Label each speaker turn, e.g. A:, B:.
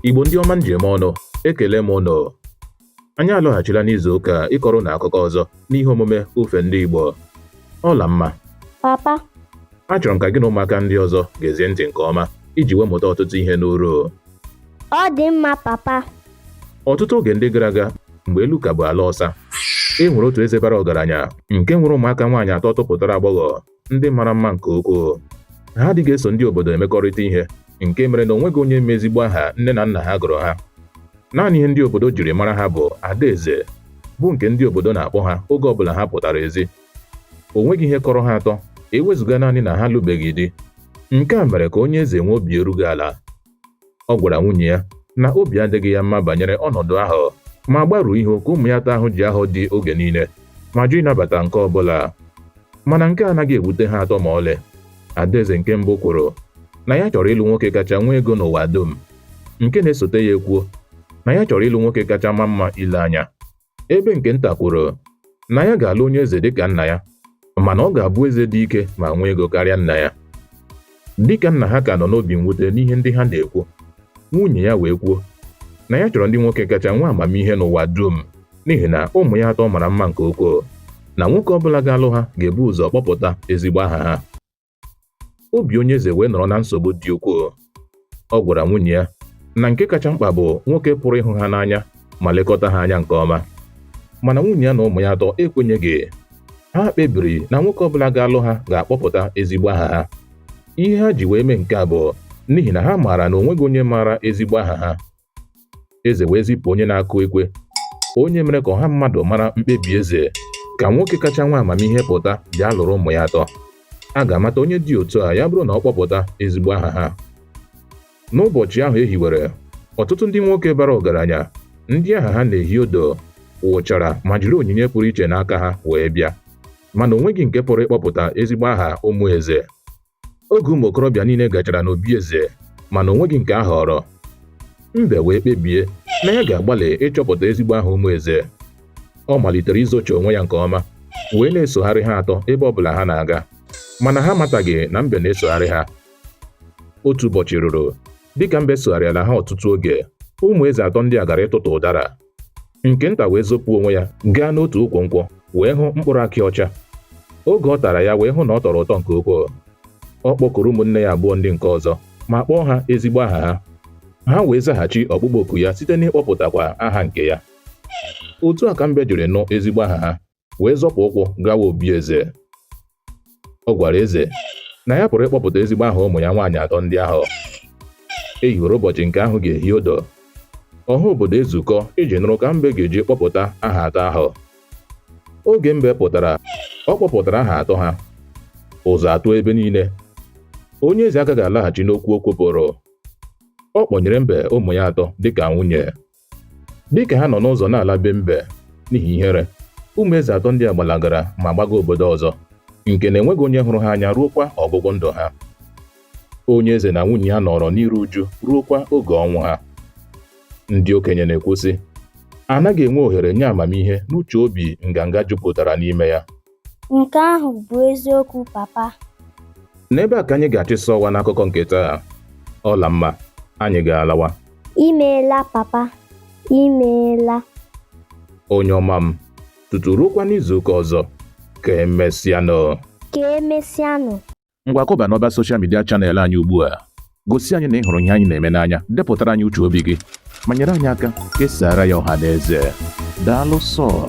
A: Igbo ndị ọma m ji eme ọnụ ekele m ụnụ anyị alọghachila n'izu ụka a ịkọrọ ụnụ akụkọ ọzọ n'ihe omume ofe ndị Igbo Ọlamma papa achọrọ m ka gị na ụmụaka ndị ọzọ geezie ntị nke ọma iji wee mụta ọtụtụ ihe n'uru ọ dị mma papa ọtụtụ oge ndị gara aga mgbe elu ka bụ ala ọsa e nwere otu eze bara ọgaranya nke nwere ụmụaka nwaanyị atọ topụtara agbọghọ ndị mara mma nke ukwuu ha adịghị eso ndị obodo emekọrịta ihe nke mere na o nweghị onye ma ezigbo aha nne na nna ha gụrụ ha naanị ihe ndị obodo jiri mara ha bụ adaeze bụ nke ndị obodo na-akpọ ha oge ọbụla ha pụtara ezi o nweghị ihe kọrọ ha atọ ewezụga naanị na ha lụbeghị di nke a mere ka onye eze nwee obi erughị ala Ọ gwara nwunye ya na obi adịghị ya mma banyere ọnọdụ ahụ ma gbaruo ihu ka ụmụ ya atọ ahụ ji ahọ di oge niile ma jụ ịnabata nke ọ bụla mana nke a anaghị ewute ha atọ ma ọlị adaeze nke mbụ kwuru na ya chọrọ ịlụ nwoke kacha nwee ego n'ụwa dum nke na-esote ya ekwuo na ya chọrọ ịlụ nwoke kacha ma mma ile anya ebe nke nta kwuru na ya ga-alụ onye eze dịka nna ya mana ọ ga-abụ eze dị ike ma nwee ego karịa nna ya dịka nna ha ka nọ n'obi mwute n'ihe ndị ha na-ekwu nwunye ya wee kwuo na ya chọrọ ndị nwoke kacha nwee amamihe n'ụwa dum n'ihi na ụmụ ya atọ mara mma nke ukwuu na nwoke ọ bụla ga-alụ ha ga-ebu ụzọ kpọpụta ezigbo aha ha obi onye eze wee nọrọ na nsogbu dị ukwuu ọ gwara nwunye ya na nke kacha mkpa bụ nwoke pụrụ ịhụ ha n'anya ma lekọta ha anya nke ọma mana nwunye ya na ụmụ ya atọ ekwenyeghị ha kpebiri na nwoke ọbụla ga-alụ ha ga-akpọpụta ezigbo aha ha ihe ha ji wee mee nke a bụ n'ihi na ha maara na o nweghị onye maara ezigbo aha ha eze wee zipụ onye na-akụ ekwe onye mere ka ọha mmadụ mara mkpebi eze ka nwoke kacha nwee amamihe pụta bịa lụrụ ụmụ ya atọ a ga-amata onye dị otu a ya bụrụ na ọ kpọpụta ezigbo aha ha n'ụbọchị ahụ e hiwere ọtụtụ ndị nwoke bara ọgaranya ndị aha ha na-ehi udu wụchara ma jiri onyinye pụrụ iche n'aka ha wee bịa mana o nweghị nke pụrụ ịkpọpụta ezigbo aha ụmụ eze oge ụmụ okorobịa niile gachara n'obi eze mana o nweghị nke a họrọ mbe wee kpebie na ya ga-agbalị ịchọpụta ezigbo aha ụmụ eze ọ malitere izochi onwe ya nke ọma wee na-esogharị ha atọ ebe ọbụla ha na-aga mana ha amataghị na mbe na-esogharị ha otu ụbọchị ruru dịka mbe sogharịala ha ọtụtụ oge ụmụ eze atọ ndị a gara ịtụtụ ụdara nke nta wee zopụ onwe ya gaa n'otu ukwu nkwụ wee hụ mkpụrụ akị ọcha oge ọ tara ya wee hụ na ọ tọrọ ụtọ nke ukwuu ọ kpọkuru ụmụnne ya abụọ ndị nke ọzọ ma kpọọ ha ezigbo aha ha ha wee zaghachi ọkpụkpọ oku ya site n'ịkpọpụtakwa aha nke ya otu a ka mbe jiri nụ ezigbo aha ha wee zọpụ ụkwụ gawa obi eze ọ gwara eze na ya pụrụ ịkpọpụta ezigbo aha ụmụ ya nwaanyị atọ ndị ahụ e hiwere ụbọchị nke ahụ ga-ehi odo ọha obodo ezukọ iji nụrụ ka mbe ga-eji kpọpụta aha atọ ahụ oge mbe pụtara ọ kpọpụtara aha atọ ha ụzụ atụọ ebe niile onye eze agaghị alaghachi n'okwu o kwupụrụ ọ kpọnyere mbe ụmụ ya atọ dịka nwunye dịka ha nọ n'ụzọ na-ala be mbe n'ihi ihere ụmụ eze atọ ndị a gbalagara ma gbaga obodo ọzọ nke na e nweghị onye hụrụ ha anya ruokwa ọgwụgwụ ndụ ha onye eze na nwunye ya nọrọ n'iru uju ruokwa oge ọnwụ ha ndị okenye na-ekwu sị anaghị enwe ohere nye amamihe n'uche obi nganga jupụtara n'ime ya Nke ahụ bụ eziokwu papa. N'ebe a ka anyị ga-achịsa ọwa n'akụkọ nke taa. Ọlamma, anyị ga-alawa. Imeela papa, imeela. Onye ọma m, tutu ruokwa n'izuụka ọzọ, ka emesịanụ. Ka emesịanụ. Ngwa kụba n'ọba soshal midia chanel anyị ugbu a. Gosi anyị na ị hụrụ ihe anyị na-eme n'anya, depụtara anyị uche obi gị, ma nyere anyị aka kesaara ya ọha na eze. Daalụ sọọ.